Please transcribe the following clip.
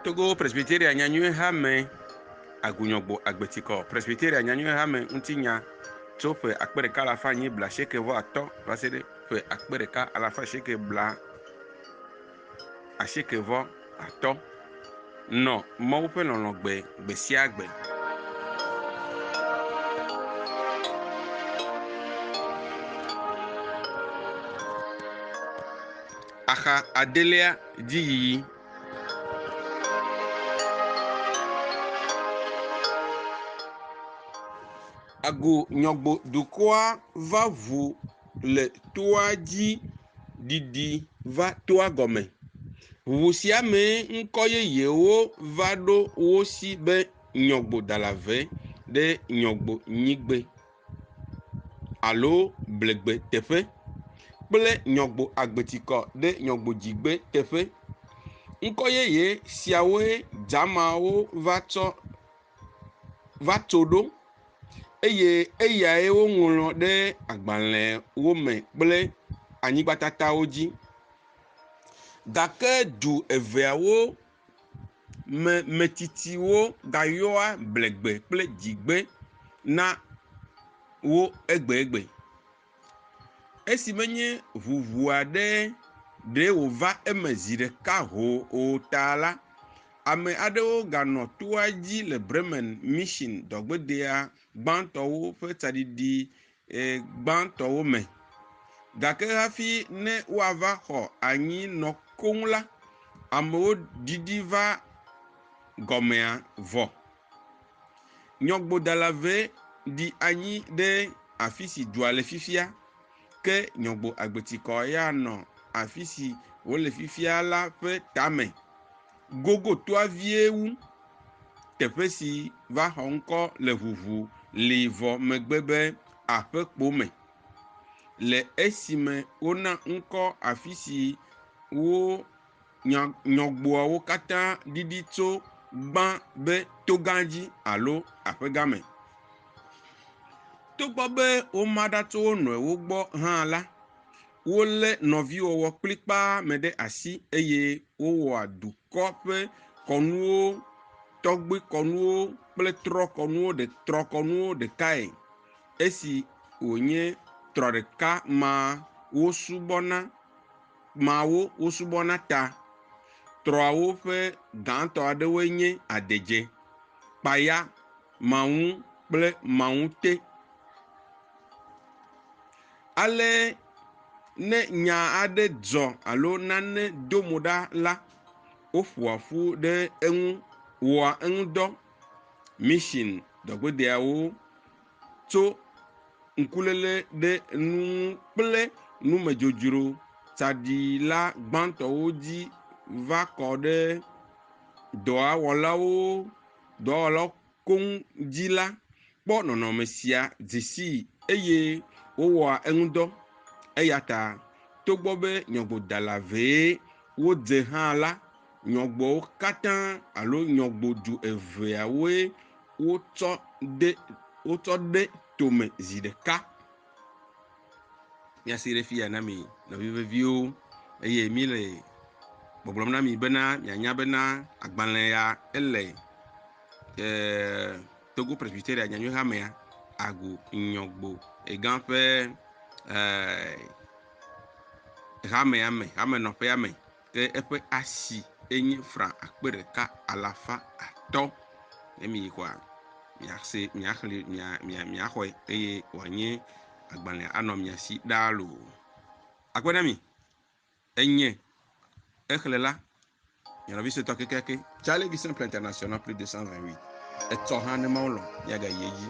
Togo Presbyteria Nyanyuihamee Agunyɔgbo Agbetikɔ Presbyteria Nyanyuihame Ŋutinya tso ƒe akpe ɖeka alafa anyi blaasieke vɔ atɔ̃ va se ɖe ƒe akpe ɖeka alafa asieke bla asieke vɔ atɔ. Nɔ Mawu ƒe lɔlɔ̃ gbe gbesiagbe. Axa adelia dzi yiyi. Agu nyɔgbo dukɔa va ʋu le toa dzi. ɖiɖi va toa gɔme. Ʋu sia mee ŋkɔ yeyewo va ɖo wo si be Nyɔgbodalave ɖe Nyɔgbonyigbe alo Blegbe teƒe kple Nyɔgboagbetikɔ ɖe Nyɔgbodzigbe teƒe. Ŋkɔ yeye siawoe Dzamawo va tsɔ va tso ɖo eye eyae woŋlɔ ɖe agbalẽwo me kple anyigbatatawo dzi. Gake du eveawo me metsitsiwo gayɔa blegbe kple dzigbe na wo egbegbe. Esi menye ʋuʋu aɖe ɖee wòva eme zi ɖeka hoo o ta la, ame aɖewo ganɔ toa dzi le Bremen Mission Dɔgbedea gbãtɔwo ƒe tsaɖiɖi gbãtɔwo me. Gake hafi ne woava xɔ anyi nɔ koŋ la, amewo ɖiɖi va gɔmea vɔ. Nyɔgbodala ʋɛ ɖi anyi ɖe afi si dua le fifia, ke nyɔgbo agbetikɔ ya nɔ afi si wòle fifia la ƒe tame gogotoa vie wu. Teƒe si va xɔ ŋkɔ le ʋuʋu li vɔ megbe be aƒekpo me, le esime wona ŋkɔ afi si wo nya nyɔgboawo katã ɖiɖi tso gbã be togã dzi alo aƒegã me. Togbɔ be woma ɖa tso wo nɔewo gbɔ hã la, wolé nɔviwɔwɔ kplikpaa me ɖe asi eye wowɔa dukɔ ƒe kɔnuwo, tɔgbuikɔnuwo kple trɔkɔnuwo ɖe trɔkɔnuwo ɖekae. Esi wònye trɔ ɖeka maa wosubɔna. Kpẽa wo wosubɔna ta trɔawo ƒe gãtɔ aɖewoe nye adedze, kpaya, maŋu kple maŋute. Ale ne nya aɖe dzɔ alo nane do mo ɖa la, woƒoa ƒu ɖe eŋu wɔa eŋudɔ. Mission dɔgbedeawo. tso ŋkuléle ɖe nu ŋu kple numedzodzro tsaɖila gbãtɔwo dzi va kɔ ɖe dɔa wɔlawo dɔwɔlawo koŋ dzi la kpɔ nɔnɔme sia dze sii eye wowɔa eŋudɔ. Eya ta, togbɔ be nyɔgodala vee wodze hã la, Nyɔgboawo katã alo nyɔgbodu eveawoe wotsɔ de wotsɔ ɖe tome zi ɖeka. Míasee ɖe fiya na mi nɔvi veviwo eye míle gbɔgblɔm na mi bena mianya bena agbalẽ ya ele e, Togo Presbyteria Nyanyuihamea agu nyɔgbo egã ƒe e, hamea me, hamenɔƒea me. Ke eƒe asi enye fra akpe ɖeka alafa atɔ̃. Ne miyi kɔa, miase, miaxli, mia, mia, miaxɔe eye wòanye agbalẽa anɔ mia si ɖaa loo. Akpe na mi. Enye exlẽ la, nye nɔvi suetɔ kekeake. Charlie Vision Plan International plus 228. Etsɔ hã ne Mawu lɔ̃, míagayi edzi.